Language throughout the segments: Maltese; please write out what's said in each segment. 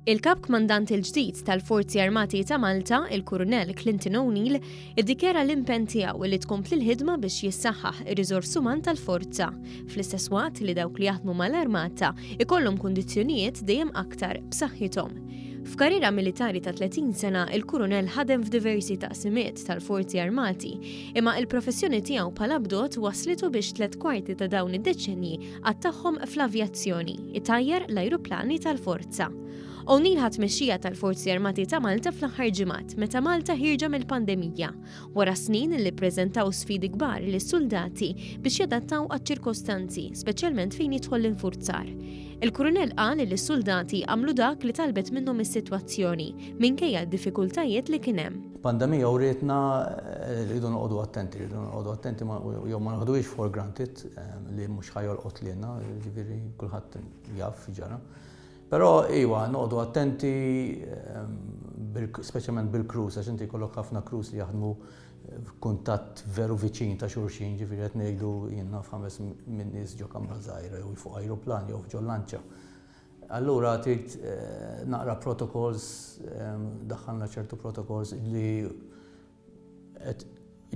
Il-Kap Kmandant il-ġdid tal-Forzi Armati ta' Malta, il-Kurunell Clinton O'Neill, iddikjara l-impenn tiegħu li tkompli l-ħidma biex jissaħħaħ ir-riżors uman tal-forza, fl-istess waqt li dawk li jaħdmu mal-armata ikollhom kundizzjonijiet dejjem aktar b'saħħithom. F'karriera militari ta' 30 sena, il-Kurunell ħadem f'diversi taqsimiet tal-Forzi Armati, imma il-professjoni tiegħu bħala bdot waslitu biex tliet kwarti ta' dawn id-deċenji Qatt tagħhom fl-avjazzjoni, itajjar l-ajruplani tal-forza. O'Neill ħadd mexxija tal-Forzi Armati ta' Malta fl-aħħar ġimgħat meta Malta ħirġa mill-pandemija wara snin li ppreżentaw sfidi kbar lis-suldati biex jadattaw għaċ-ċirkostanzi, speċjalment fejn jidħol l-infurzar. Il-Kurunell qal li s-suldati għamlu dak li talbet minnhom is-sitwazzjoni minkejja d-diffikultajiet li kien hemm. Pandemija u rietna eh, rridu noqogħdu attenti, rridu noqogħdu attenti jew ma naħduhiex for granted li mhux ħajolqot lilna, ġifieri kulħadd jaf ġara. Però iwa, noqogħdu attenti speċjalment bil-krus, għax inti kollok ħafna krus li jaħdmu f'kuntatt veru viċin ta' xulxin, ġifieri qed ngħidu jiena f'ħames minn nies ġo kamra żgħira jew fuq ajruplan jew ġo lanċa. Allura trid eh, naqra protokols, eh, daħħalna ċertu protokols li qed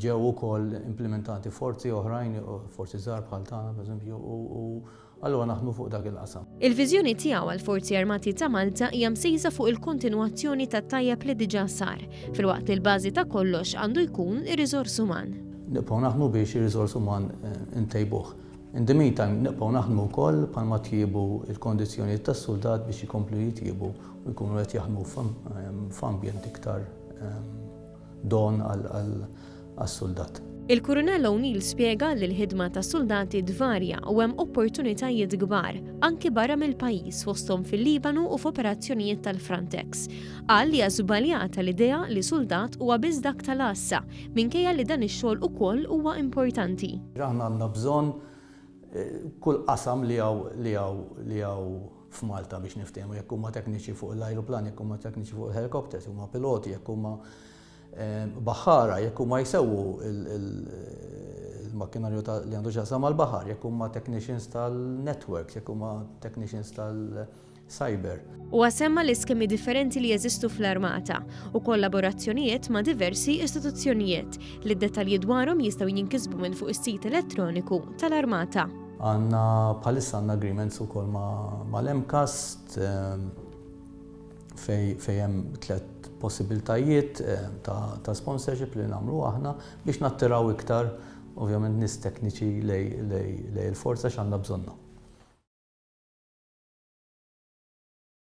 ġew ukoll implimentati forzi oħrajn, forzi żgħar bħal tagħna pereżempju, u allura naħdmu fuq dak il-qasam. Il-viżjoni tiegħu għall-Forzi Armati ta' Malta hija msejsa fuq il-kontinwazzjoni tat-tajjeb li diġà sar, filwaqt li l-bażi ta' kollox għandu jkun ir-riżors uman. Nibqgħu naħdmu biex ir-riżors uman intejbuh. In the meantime, nibqgħu naħdmu wkoll bħalma tjiebu l-kondizzjonijiet tas-suldat biex ikomplu jitjiebu u jkunu qed jaħdmu f'ambjent iktar don għas-suldat. Il-Kurunell O'Neill spjega li l-ħidma tas-suldati tvarja u hemm opportunitajiet kbar, anki barra mill-pajjiż fosthom fil-Libanu u f'operazzjonijiet tal-Frontex. Qal li hija żbaljata l-idea li suldat huwa biss dak tal-għassa, minkejja li dan ix-xogħol ukoll huwa importanti. Aħna għandna bżonn kull qasam li hawn f'Malta biex niftehmu jekk huma tekniċi fuq l-ajruplani, jekk huma tekniċi fuq il-helikopters, huma piloti, jekk huma ehm, baħħara, jekk huma jsewwu il-makkinarju li għandu xaqsam mal-baħar, jekk huma technicians tal-networks, jekk huma technicians tal-cyber. U għasemma l-iskemi differenti li jeżistu fl-armata u kollaborazzjonijiet ma' diversi istituzzjonijiet li d-detalji dwarhom jistgħu jinkisbu minn fuq is-sit elettroniku tal-armata. Għandna bħalissa għandna agreements ukoll mal-MCAST fejn hemm tliet possibiltajiet ta' sponsorship li nagħmlu aħna biex nattiraw iktar ovvjament nies tekniċi lejn il-forza għax għandna bżonnhom.